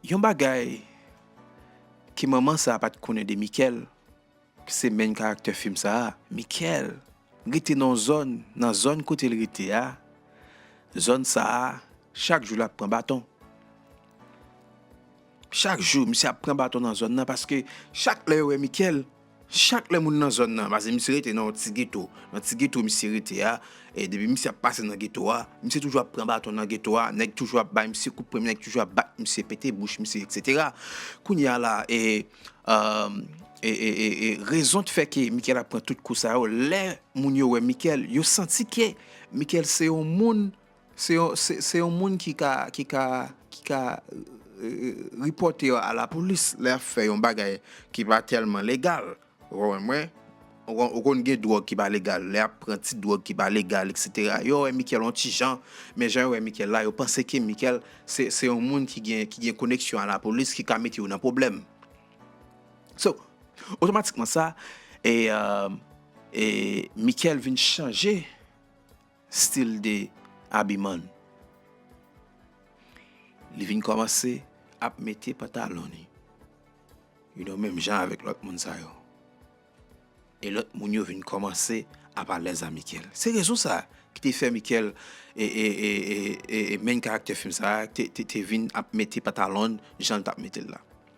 Yon bagay ke manman sa pat konnen de Mikel ki se main karaktè film sa, Mikel rete nan yon zòn, nan zòn kote l rete a, zòn sa chak jou lap pran baton. Chak jou misye ap pran baton nan zòn nan paske chak lè yo wè Mikel, Chak lè moun nan zòn nan, pase misye rete nan yon ti geto, nan ti geto misye rete a, e depi misye ap pase nan geto a, misye toujou ap pran baton nan geto a, nèg toujou ap bay misye kout pwen, nèg toujou ap bat misye, pete bouch misye, eksetera. Kounye a la e, e, e, e, e, rezon t fè ke Michael ap pran tout kou sa yo, lè moun yo wè Michael, yo santi ke Michael se yon moun Se yon moun ki ka ki ka ki ka ripòte yo a la polis lè yap fè yon bagay ki pa tèlman legal ou wè mwen ou konn gen dwòg ki pa legal lè yap pran ti dwòg ki pa legal etc yo wè Michael yon ti jan men jan yo wè Michael la yo panse ke Michael se se yon moun ki gen ki gen koneksyon a la polis ki ka mete yo nan pwoblèm so otomatikman sa e e Michael vin chanje. Stil de abiman l. Li vin kòmanse ap mete pantalon li. You know menm jan avèk lòt moun sa yo. E lòt moun yo vin kòmanse ap alèz a Michael. Se rezon sa ki te fè Michael e main karaktè fim sa te vin ap mete pantalon l jan l t ap mete l la.